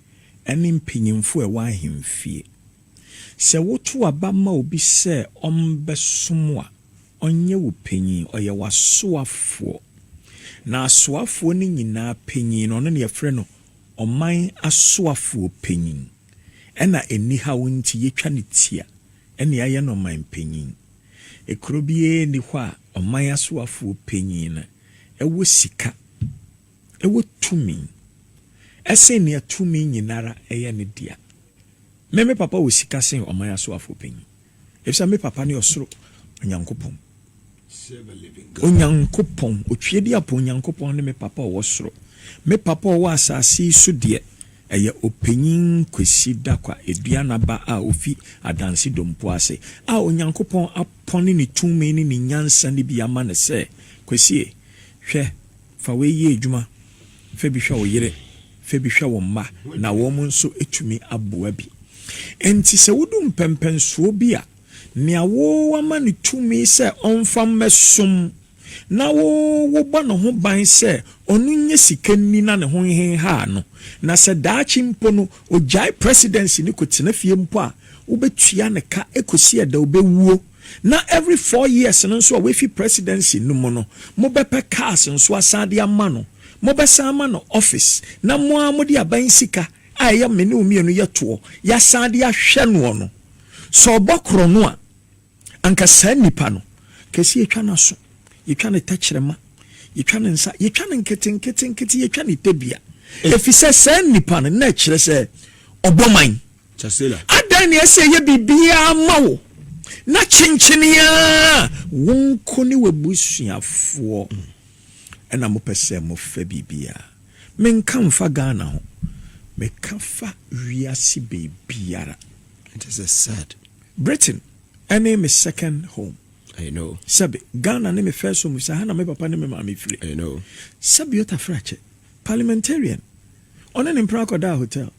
ne mpanyimfo a ɛwɔ ahemfie. Sɛ wotow aba ma obi sɛ ɔmmɛsom a, ɔnyɛ wo panyin, ɔyɛ w'asoafoɔ. Na asoafoɔ no nyinaa panyin no, ɔno na yɛfrɛ no ɔman asoafoɔ panyin. Ɛnna anihaw nti, yetwa no ti a, ɛnna yɛayɛ no ɔman panyin. Kuro biara nni hɔ a ɔman asoafoɔ panyin no wɔ sika Ewɔ tumi sen nea tumi nyinara yɛ ne dea. Me, me papa wɔ sika sen ɔman asoafo panyin, efisɛ me papa ne ɔsoro Onyankopɔn. Onyankopɔn, Otweaduapɔn Nyankopɔn ne me papa a ɔwɔ soro. Me papa a ɔwɔ asase yi so deɛ, ɛyɛ Ɔpanyin Kwesi Dakwa Aduana ba a ofi Adanse Dompo ase, a Onyankopɔn apɔne ne tumi ne ne nyansa no bi ama no sɛ, Kwesie, hwɛ, Fa wei yɛ adwuma, Fa bi hwɛ wo yere, fa bi hwɛ wo mma, na wɔn nso tumi aboa bi. Enti sɛ wodu mpɛnpɛnsoɔ bi a, nea wo ama no tumi sɛ ɔmfa mmɛsom, na wo wobɔ ne ho ban sɛ ɔno nyɛ sika nni na ne ho nhenhaa no, na sɛ daakye mpo no ɔgyae presidency no kɔtena fie mpo a, wobɛtua ne ka kɔsi ɛda ɔbɛwuo. Na every four years no nso a wafi presidency no mu no, mobɛpɛ cars nso asan de ama no. Mobɛsan ama no office na mo ara mode aban sika a ɛyɛ me ne wo mmienu yɛ toɔ, yɛasan de ahwɛ noɔ no. Sɛ ɔbɔ korɔno a, anka saa nipa no, anka ɛsɛ yɛtwa n'aso, yɛtwa ne tɛkyerɛma, yɛtwa ne nsa, yɛtwa no nketenketenkete, yɛtwa ne tadua. Ɛfiri sɛ saa nipa no, na ɛkyerɛ sɛ ɔbɔ man. Adɛn na ɛsɛ sɛ ɛyɛ biribiara ma wo na kyenkyenee ara wo nko ne w'abusuafoɔ na mopɛ sɛ mofa biribiara? Menka mfa Ghana ho, meka fa wiase baabiara. It is a sad. Britain ne me second home. I know. Sɛbe, Ghana ne me first home, sɛ ha na me papa ne me maame firi. I know. Sɛbe Otaferɛ Akyɛ, parliamentarian, ɔne ne mpena akɔdaa hotel.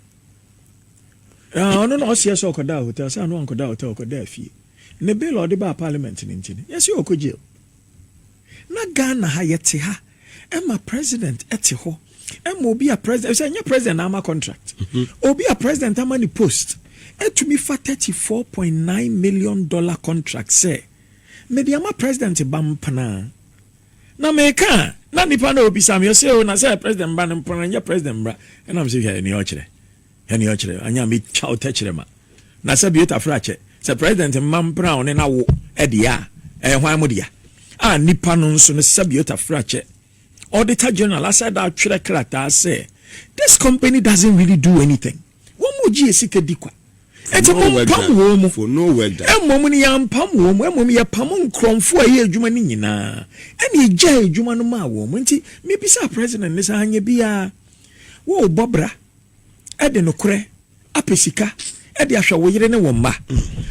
Na ɔno na ɔseɛ sɛ ɔkɔdaa hotel, sɛ ano ankɔdaa hotel, ɔkɔdaa fie. Ne bill a ɔde baa parliament no nti no, yɛse ɔkɔ jail. Na Ghana ha, yɛte ha, ɛma president ɛte hɔ, ɛma obi a president, ɛsɛ ɛnyɛ president na ama contract. Mhm. Obi a president ama ne post, ɛtumi fa 34.9 million dollar contract sɛ, mede ama president ba mpena. Na meka a, na nnipa no rebisa me, wɔse, Oh, na sɛ President mma no mpo no, ɛnyɛ President mmra. Ɛna mese, Hwɛ nea ɔkyerɛ, hwɛ nea ɔkyerɛ, anyɛ a mɛtwa wo tɛkyerɛma. Na sɛ Biota Frakyɛ, sɛ President mma mpra wo ne n'awo deɛ a, ɛyɛ hwan mo dea? A nnipa no nso no, sɛ Biota Frakyɛ, Auditor General, asɛ da atwerɛ krataa sɛ, This company doesn't really do anything. Wɔn mu gye yɛ sika di kwa. Enti mo mpam wɔn mu. Mmom no yɛ ampam wɔn mu, mmom yɛ pamo nkrɔnfo a ɛyɛ adwuma no nyinaa, ɛna yɛ gyae adwuma no maa wɔn. Enti me bisaa president no sɛ, anyɛ biaa wo rebɔ bra de nokorɛ apɛ sika de ahwɛ wo yere ne wo mma?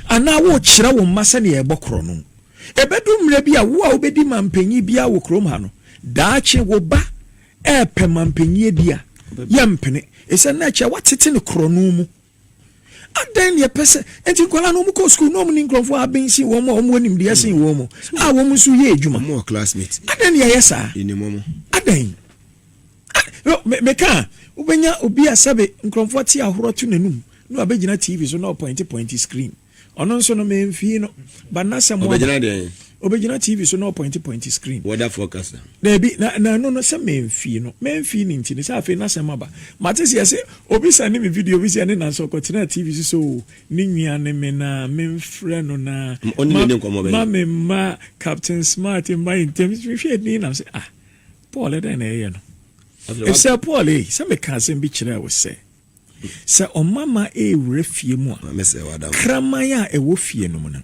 Anaa wo rekyerɛ wo mma sɛdeɛ yɛ bɔ korɔno? Ɛbɛdu mmerɛ bi a wo a wo bɛdi manpanyin biaa wɔ kurom ha no, daakye wo ba ɛɛpɛ mampanyie bi a, yɛmpene. Ɛsiane na ɛkyɛ watete no korɔno mu. Adɛn na ɛpɛ sɛ nti nkwadaa no wɔkɔ sukuu na wɔn ni nkurɔfoɔ a aben sen wɔn a wɔn wɔ nimdeɛ sen wɔn mu a wɔn nso yɛ adwuma. Adɛn na ɛyɛ saa? Adɛn? Meka a wobɛnya obi a sɛbe nkurɔfoɔ te ahorɔ to n'anum na wabɛgyina TV so na ɔpɔinte pɔinte screen. Ɔno nso no memfii no but na sɛ mo Ɔbɛgyina deɛn? Ɔbɛgyina TV so na ɔpɔinte pɔinte screen. Weather forecast na. Daabi na na ɛno no sɛ memfii no memfii ne nti no sɛ afei na sɛm aba mate sɛ yɛse obi sɛne me video bi sɛ ɛne Nanso ɔkɔtenaa TV so sɛ oo ne nua ne me na memfrɛ no na Ɔne ma, ne ne nkɔmmɔ bɛn? ma me mma Captain Smart mma yɛn ntam mehwɛ ɛdin nam sɛ ah Paul ɛdɛn na ɛyɛ no Afei wa- Efisɛ Paul ei sɛ meka asɛm bi kyerɛɛ wo sɛ Sɛ ɔmamma rewura fie mu a, kraman a ɛwɔ fie no mu no,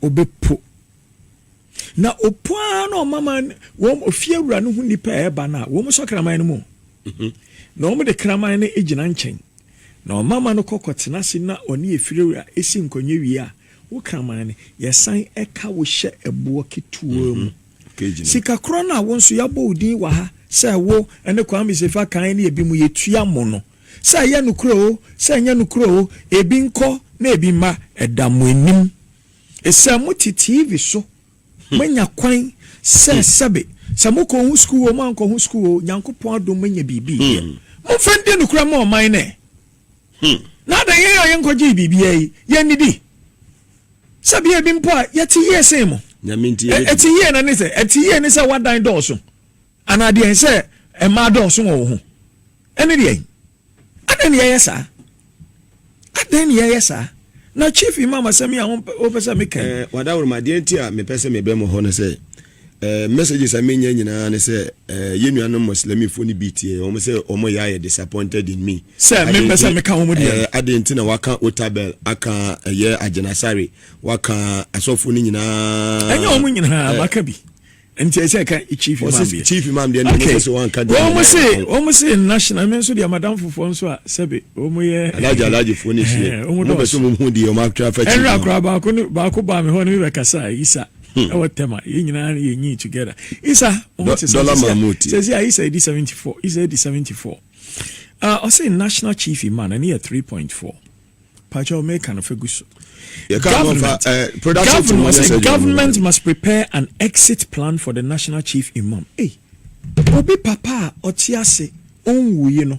ɔbɛpo. Na ɔpo ara na ɔmamma wɔn fiewura no ho nnipa a ɛreba no a, wɔn sɔ kraman no mu. Mhm. Na wɔn de kraman no gyina nkyɛn. Na ɔmamma no kɔ kɔtena ase na ɔne efiewura si nkonnwa wie a, wo kraman no, yɛsan ka wo hyɛ ɛboɔ ketewa mu. Mhm. Sikakorɔ no a wo nso yɛabɔ wo din wɔ ha sɛ wo ne Kwame Sefa kan ne ebinom yɛtua mo no, sɛ ɛyɛ nokorɛ o, sɛ ɛnyɛ nokorɛ o, ebi nkɔ na ebi mma, ɛda mo anim. Sɛ mote TV so, moanya kwan sɛ sɛbe, sɛ mokɔɔ ho sukuu o, moankɔ ho sukuu o, Nyankopɔn adom moanya biribi yɛ. Momfa ndi nokorɛ mma ɔman no ɛ! Hmm. Na adɛn yɛn a yɛnkɔgyee biribiara yi, yɛnnidi? Sɛ bia ebi mpo a yɛte yie sen mo. Ɛte yie na ne sɛ ɛte yie ne sɛ wadan dɔɔso anaa deɛn sɛ mmaa dɔɔso wɔ wo ho ɛne deɛn adɛn ne yɛyɛ saa adɛn ne yɛyɛ saa na chief imam asɛm yi a wopɛ sɛ meka eh, wadaworo ma deɛ nti a mepɛ sɛ mebɛ mo hɔ no sɛ Messages a menya nyinaa ne sɛ yɛn nuanom Muslimifo no bi tie wɔn sɛ wɔn yɛ ayɛ disappointed in me. Sɛ mempɛ sɛ meka wɔn deɛ no. Adɛn nti na waka Otabel aka ɛyɛ Agyenasare waka asɔfo no nyinaa. Ɛnyɛ wɔn nyinaa maka bi. Nti ɛsɛ ɛka chief imam deɛ. Chief imam deɛ no ɛsɛ sɛ wɔnka deɛ. Wɔn se wɔn se national me nso deɛ madam fofoɔ nso a sɛbe wɔn yɛ. Alaji alaji fo ne sie. Wɔn bɛ so wɔn hu deɛ wɔn atwa afa chief. Ɛnura kora baako baako baa mi hɔ ne mi bɛ kasa isa. ɛwɔ tɛm a yɛn nyinaa no yɛ nyi together isa wɔn ti sɛ sɛ sɛ isa edi seventy four isa edi seventy four ah, ɔsɛ national chief man ɛne yɛ three point four pàtó mɛka no fɛ gu so government eh, government ɔsɛ government must prepare an exit plan for the national chief imam ee obi papa a ɔte ase ɔnwuye no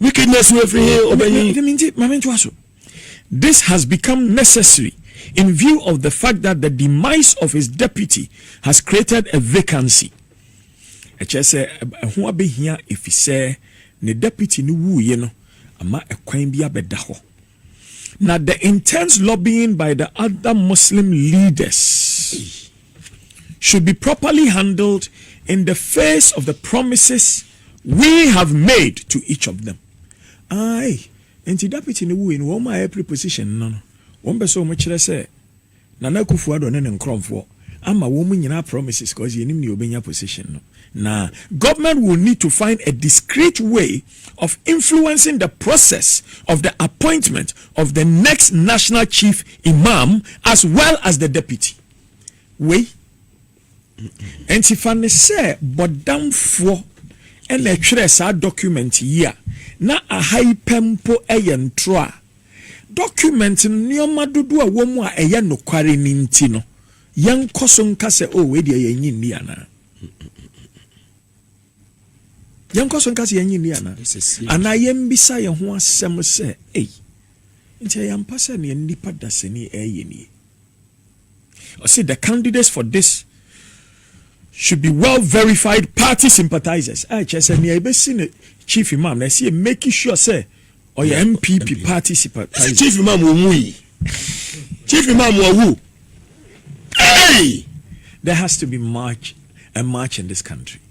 Wickedness no firi he ɔbɛ nyi? Dɛm nti ma me ntoa so. This has become necessary in view of the fact that the demise of his deputy has created a vacancy. Ɛkyerɛ sɛ ɛho abɛhia efisɛ ne deputy no wuiɛ no ama ɛkwan bi abɛda hɔ. Na the intense lobbying by the other Muslim leaders should be properly handled in the face of the promises we have made to each of them. Aye, nti Deputy no wuiɛ no, wɔn a ɛpre position no no, wɔn pɛ sɛ wɔn kyerɛ sɛ Nana Akuffo Addo ne ne nkrɔnfoɔ ama wɔn mo nyinaa promises cause yɛnim nea ɔbɛnya position no na government will need to find a discreet way of influencing the process of the appointment of the next national chief imam as well as the deputy wei nti fa ne sɛ bɔdamfoɔ ɛna ɛtwerɛ saa document yi a na aha yi pɛ mpo ɛyɛ ntorɔ a Dɔkumɛnt no nneɛma dodoɔ a ɛwɔ mu a ɛyɛ nokware no nti no, yɛnkɔ so nka sɛ, O, wei deɛ yɛnnye nni anaa? Yɛnkɔ so nka sɛ yɛnnye nni anaa? Anaa yɛmmisa yɛn ho asɛm sɛ, ei, nti ɛyɛ ampa sɛ nea nnipa dasani ɛreyɛ nie? Ɔse the candidates for this should be well verified party sympathizers a ɛkyerɛ sɛ nea ɛbɛsi ne chief imam na ɛsɛ yɛ make sure sɛ ɔyɛ mpp party sympathizer. chief imam wɔ mu yi chief imam wɔ wu. Hey! There has to be march a march in this country.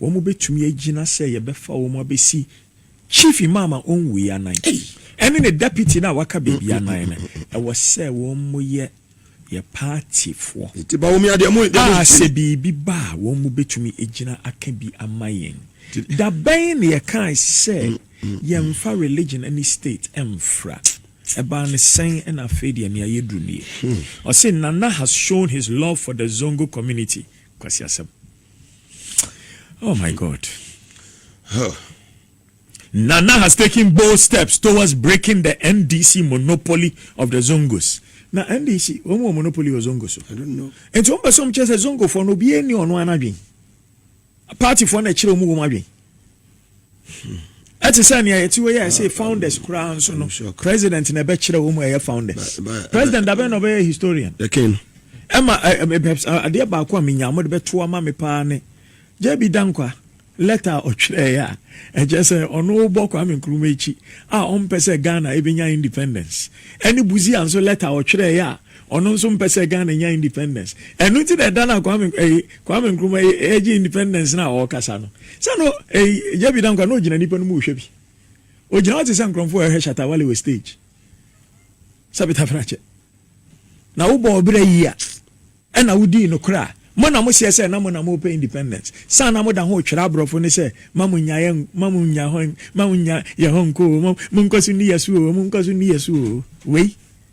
wɔbɛtumi agyina sɛ yɛbɛfa wɔn abɛsi Chief Imam a ɔnwuiɛ anan ɛne ne Deputy no a waka baabi anan no, ɛwɔ sɛ wɔyɛ yɛn paatifoɔ a sɛ biribi ba a wɔbɛtumi agyina aka bi ama yɛn. Da bɛn na yɛkae sɛ yɛmfa religion ne state mfra? Ɛbaa no sɛn na afei deɛ nea yɛduru nie? Ɔse Nana has shown his love for the Zongo community, Kwasi Asɛm. Oh my God. Huh. Nana has taken bold steps towards breaking the NDC monopoly of the Zongos. Now NDC, wɔn wɔ monopoly wɔ Zongo so. I don't know. Nti wɔn bɛ so wɔn kyerɛ sɛ Zongo fo no obiara ni ɔno anadwen. Party fo na ɛkyerɛ wɔn wɔn adwen. ɛte sɛ nea yɛte hɔ yi a ɛsɛ founders koraa nso no president na ɛbɛkyerɛ wɔn mu ɛyɛ founders president abɛn na ɔbɛyɛ historian ɛma adeɛ baako a menya mo de bɛto ama me paa ne jb dankwa lɛta a ɔtwerɛeɛ a ɛkyɛ sɛ ɔno bɔ kwame nkrumah akyi a ɔmpɛ sɛ ghana ɛbɛnya independence ɛne buzia nso lɛta a ɔtwerɛeɛ a Ɔno nso mpɛ sɛ Ghana nya independence. Ɛno nti na ɛda no a Kwame ɛyi, Kwame Nkrumah yi ɛregye independence no a ɔrekasa no. Sɛ no ɛyi, JB Dankwah na ɔgyina nnipa no mu rehwɛ bi. Ɔgyina hɔ te sɛ nkorɔmfo a ɛrehwɛ Shatta Wale wɔ stage. Sɛ Peter Fenakyɛ. Na wo bɔɔ bra yi a, ɛna wo dii nokorɛ a, mo na mo seɛ sɛ na mo na mo repɛ independence. Saa na mo da ho retwerɛ aborɔfo no sɛ ma mo nya yɛn, ma mo nya hɔ, ma mo nya yɛn hɔ nkɔ oo, mo nkɔ so nni yɛn so oo, mo nkɔ so nni yɛn so oo. Wei.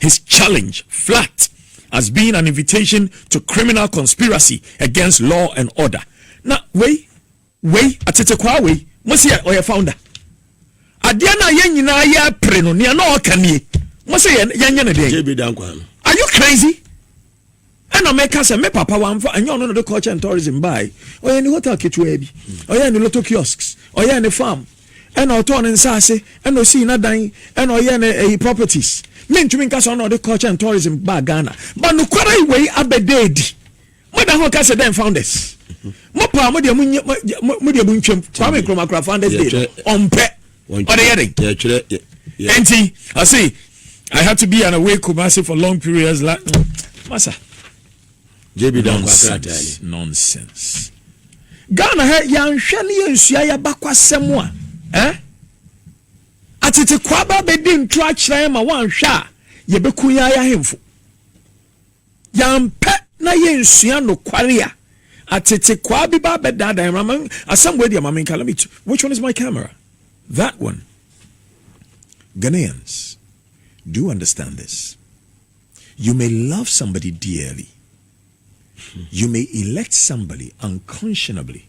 His challenge flat as being an invitation to criminal conspiracy against law and order. Na wei, wei, atetekwaa wei, mo se ɔyɛ founder. Adeɛ no a yɛn nyinaa yɛ apere no, nea na ɔka nie. Mo se yɛnyɛ no deɛ. JB Dankwa no. Are you crazy? Ɛna mɛka sɛ me papa wamfa ɛnyɛ ɔno na ɔde culture and tourism bae ɔyɛ ne hotel ketewaa bi ɔyɛ ne lotto kiosks ɔyɛ ne farm ɛna ɔtɔɔ ne nsaase ɛna ɔsii n'adan ɛna ɔyɛ ne ɛyi properties mentumi nka sɛ ɔno na ɔde culture and tourism baa Ghana ba nokwara yi wei abɛda adi moda ho ka sɛ dɛn founders mo paa mo deɛ mo deɛ mo ntwam Kwame Nkrumah kura founders day ɔmpɛ ɔde yɛ den yɛtwerɛ nti ɔse i had to be an away kumase for long periods la masa jb nonsense nonsense ghana ha yɛanhwɛ ne yɛnsua yɛabakwasɛm a eh? atete kwaba bɛdi nto akyerɛ ma woanhwɛ a yɛbɛku yɛn ayɛ ahemfo Yɛampɛ na yɛnsua nokware a atetekwaa bi ba abɛdaadaa yɛn. Mama asɛm wei deɛ ma menka. Let me t which one is my camera? That one. Ghanaians, do you understand this? You may love somebody dearly. You may elect somebody unconscionably.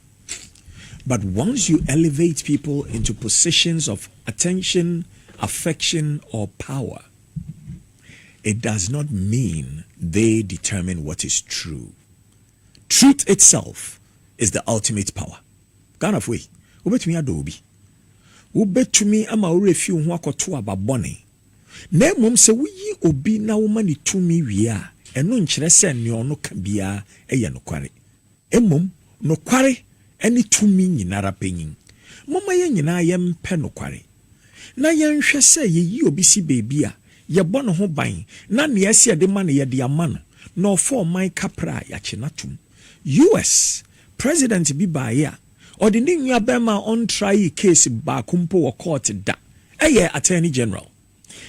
But once you elevate people into positions of attention, affection, or power, it does not mean they determine what is true. Truth itself is the ultimate power. Ghanafoɔ yi, wobɛtumi adɔ obi, wobɛtumi ama wo werɛ fi wo ho akɔto aba bɔne, na mmom sɛ woyi obi na woma no tumi wie a, ɛno nkyerɛ sɛ nea ɔno ka biara yɛ nokware. Mmom nokware ne tumi nyinara panyin. Momma yɛn nyinaa yɛmpɛ nokware, na yɛnhwɛ sɛ yeyi obi si baabi a, yɛbɔ ne ho ban, na nea ɛsɛ yɛde ma no, yɛde ama no, na ɔfa ɔman kapra a, yɛakye no atom. US. President bi baeɛ a, ɔde ne nuabarima a ɔntraee case baako mpo wɔ kɔɔte da, ɛyɛɛ Attorney General.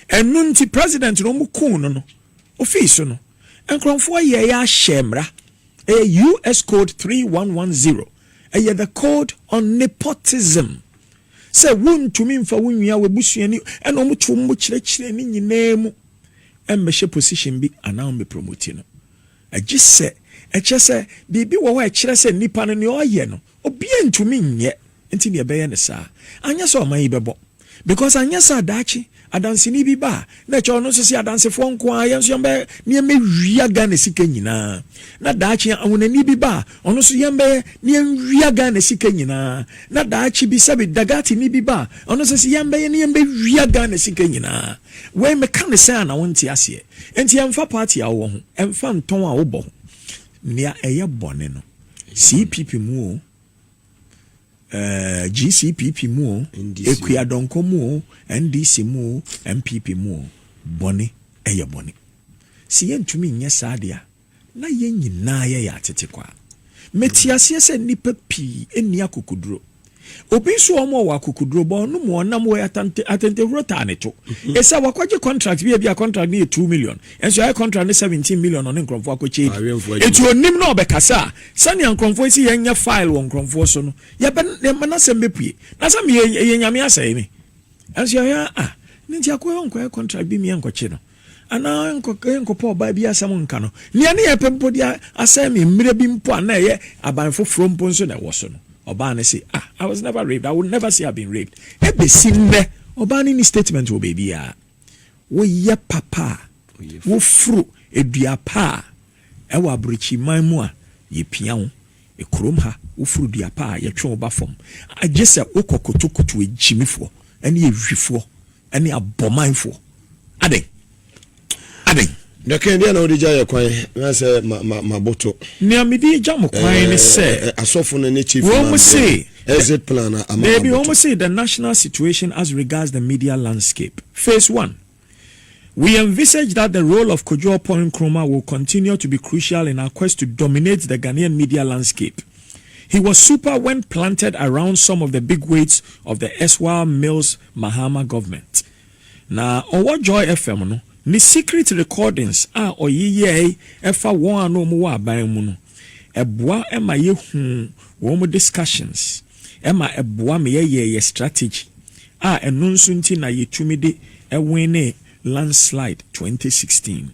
Ɛno nti president no ɔmo kuu no no ofii so no nkrɔnfoɔ yɛɛ ahyɛɛ mmra ɛyɛ US code three one one zero ɛyɛ the code on nepotism sɛ wo ntumi nfa wo nua wo abusuani ɛna ɔmo tu ɔmo kyerɛkyerɛ ne nyinaa mu ɛmmɛhyɛ position bi anaa ɔmo promoti no ɛgye sɛ ɛkyɛ sɛ biribi wɔ hɔ ɛkyerɛ sɛ nipa no nea ɔyɛ no Obiaa ntumi nyɛ nti na yɛbɛyɛ no saa anyɛ sɛ ɔman yi bɛbɔ because anyɛ saa daakye adanseni bi ba a na ɛkyɛ ɔno nso se adansefoɔ nko ara yɛn nso yɛn bɛ ne yɛn bɛwia Ghana sika nyinaa na daakye ahonani bi ba a ɔno nso yɛn bɛyɛ ne yɛn wia Ghana sika nyinaa na daakye bi sɛbi dagatini bi ba a ɔno nso se yɛn bɛyɛ ne yɛn bɛwia Ghana sika nyinaa wei meka ne sɛ a na wonte aseɛ nti ɛmfa party a wowɔ ho ɛmfa ntɔn a wobɔ ho Nea ɛyɛ bɔne no, CPP mu oo, eh, GCPP mu oo, Akuadɔnkɔ mu oo, NDC mu oo, NPP mu oo, bɔne yɛ bɔne. Se yɛntumi nyɛ saa de a, na yɛn nyinaa yɛyɛ atetekwaa. Mete aseɛ sɛ nnipa pii nni akokoduro, Obi nso wɔ hɔ ma ɔwɔ akokoduro, bɔ ɔno mu ɔnam wɔ atante atantehuro taa ne to. Mhm. Ɛsɛ wakɔgye contract bi a bi a contract no yɛ two million, ɛnso ayɛ contract no seventeen million ɔne nkurɔfoɔ akɔkyɛ di. Eti onim na ɔbɛkasa a, sɛnea nkurɔfoɔ esi yɛn nyɛ file wɔ nkurɔfoɔ so no, yɛbɛ yɛn n'asɛm bɛpue. Na sɛ meyɛ yɛ nyame asɛe me, ɛnso yɛhwɛ a, ah, ne nti akɔyɛ ɔnkɔyɛ contract bi meyɛ nkɔkye no. anaa ɛrenkɔpɛ ɔbaa bi asɛm nka no. Nea ne yɛ pɛ mpo de asɛe me mmerɛ bi mpo a na ɛyɛ aban foforɔ mpo nso na ɛwɔ so no. Ɔbaa no se, Ah, I was never raped. I will never say I've been raped. Ɛbɛsi nnɛ, ɔbaa no nni statement wɔ baabiara. Woyɛ papa a, woforo dua pa a, ɛwɔ aborɔkyiman mu a, yɛpia wo. Kurom ha, woforo dua pa a, yɛtwe wo ba fam. Gye sɛ wokɔ kotokuto agyimifoɔ ne awifoɔ Ɛne abɔmanfoɔ. Adɛn? Adɛn? Dakan biara na wode gya yɛ kwan na sɛ ma ma ma boto. Nea mede agya mo kwan eh, ne sɛ. Eh, eh, asɔfo no ne chief imam. Wɔn se. Exit plan na ama ma boto. Wɔn se the national situation as regards the media landscape. Phase one. We envisage that the role of Kojo Oppong Nkrumah will continue to be crucial in our quest to dominate the Ghanaian media landscape. He was super when planted around some of the big weights of the erstwhile Mills Mahama Government. Na ɔwɔ Joy FM no, ne secret recordings a ɔyeyɛe fa wɔn a na wɔwɔ aban mu no, ɛboa ma yehu wɔn discussions, ɛma ɛboa ma yɛyɛ yɛn strategy, a ɛno nso nti na yetumi de winee landslide twenty sixteen.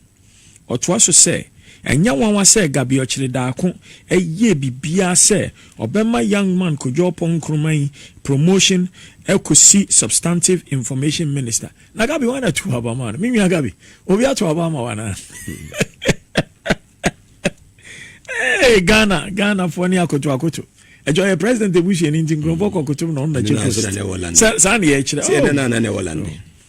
Ɔtoa so sɛ, Ɛnyɛ nwanwa sɛ Gabriel Kyiridaako yɛɛ biribiara sɛ ɔbɛma Young Man Kojo Oppong Nkrumah yi promotion kɔsi Substantive Information Minister. Na Gabi, hwan na tuu aba maa no? Me nua Gabi, obi ato aba ama wo anaa? Hey, Ghana, Ghanafoɔ ne akoto akoto. Ɛkyɛ ɔyɛ president ebusuani nti nkurɔfoɔ kɔ kotom na ɔno na kyɛ fɛ. Saa na yɛkyerɛ. Sɛ ɛdɛ na na na ɛwɔ lande.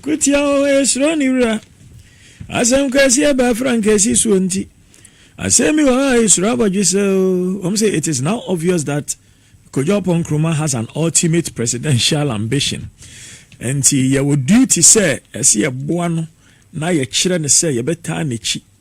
Ko tia wɔn a esuro ne wura. Asɛm kɛseɛ baa Frankaci soɔ nti, asɛm bi wɔ hɔ a esuro abɔdwe sɛ o, wɔn se it is now obvious that Kojo Oppong Nkrumah has an ultimate presidential ambition, nti yɛwɔ duty sɛ ɛse yɛboa no na yɛkyerɛ no sɛ yɛbɛtaa n'akyi.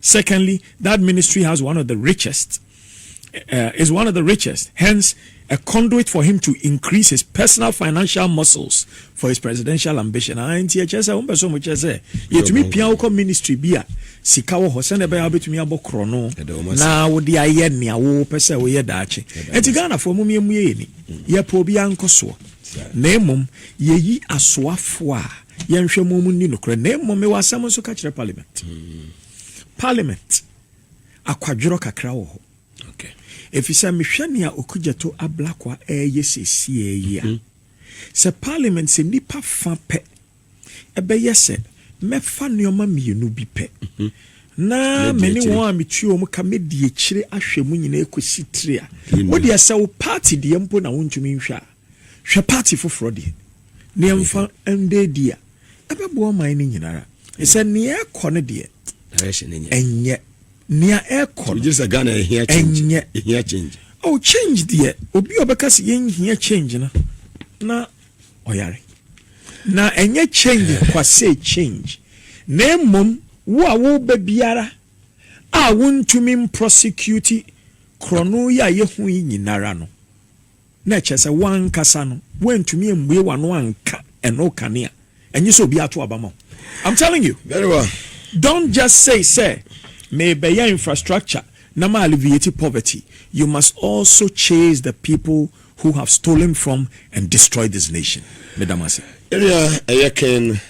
Secondly, that ministry has one of the richest, uh, is one of the richest, hence a conduit for him to increase his personal financial muscles for his presidential ambition. Ah, nti ɛkyɛ sɛ wɔn pɛsɛ wɔn kyɛ sɛ yɛtumi pia wokɔ ministry bi a sika wɔ hɔ sɛnɛ bɛyɛ wobɛtumi abɔ korɔ no na wode ayɛ nea wopɛ sɛ woyɛ daakye ɛnti ghanafoɔ mom yɛmu yɛyɛ ni yɛpɛ obi ankɔ soɔ na mmom yɛyi asoafoɔ a Yɛnhwɛ mo mu nni nokorɛ na mmom mewɔ asɛm nso ka kyerɛ parliament. Parliament, akwadworɔ kakra wɔ hɔ. Ɛfiri sɛ mehwɛ nea Okudzeto Ablakwa ɛreyɛ seesie yi a, sɛ parliament sɛ nnipa fa pɛ ɛbɛyɛ sɛ mɛfa nneɛma mmienu bi pɛ na me ne wɔn a metua wɔn ka mɛdi akyire ahwɛ mu nyinaa kɔsi tiri a wodeɛ sɛ wo party deɛ mpo na wontumi nhwɛ a Hwɛ part foforɔ deɛ. Ne yɛmfa ndɛ ɛdi a, ɛbɛboa ɔman no nyinara. Ɛsɛ nea ɛkɔ no deɛ, ɛnyɛ. Nea ɛkɔ no, ɛnyɛ. Ɛhia change. Oh, change deɛ, obi a ɔbɛka sɛ yɛnhia change no, na ɔyare. Na ɛnyɛ change kwasɛ change, na mmom wo a woba biara a wontumi mprɔsekiuti korɔno yi a yɛhu yi nyinara no, na ɛkyerɛ sɛ woankasa no woantumi ammue w'ano anka ɛno kanea ɛnye sɛ obi ato aba ma wo I'm telling you Very well don't just say sɛ mebɛyɛ infrastructure na ma alleviate poverty you must also chase the people who have stolen from and destroyed this nation meda mo ase. Yɛnua ɛyɛ ken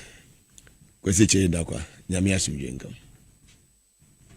Kwasi Kyei Dakwa Nyame asomdwoe nka wo.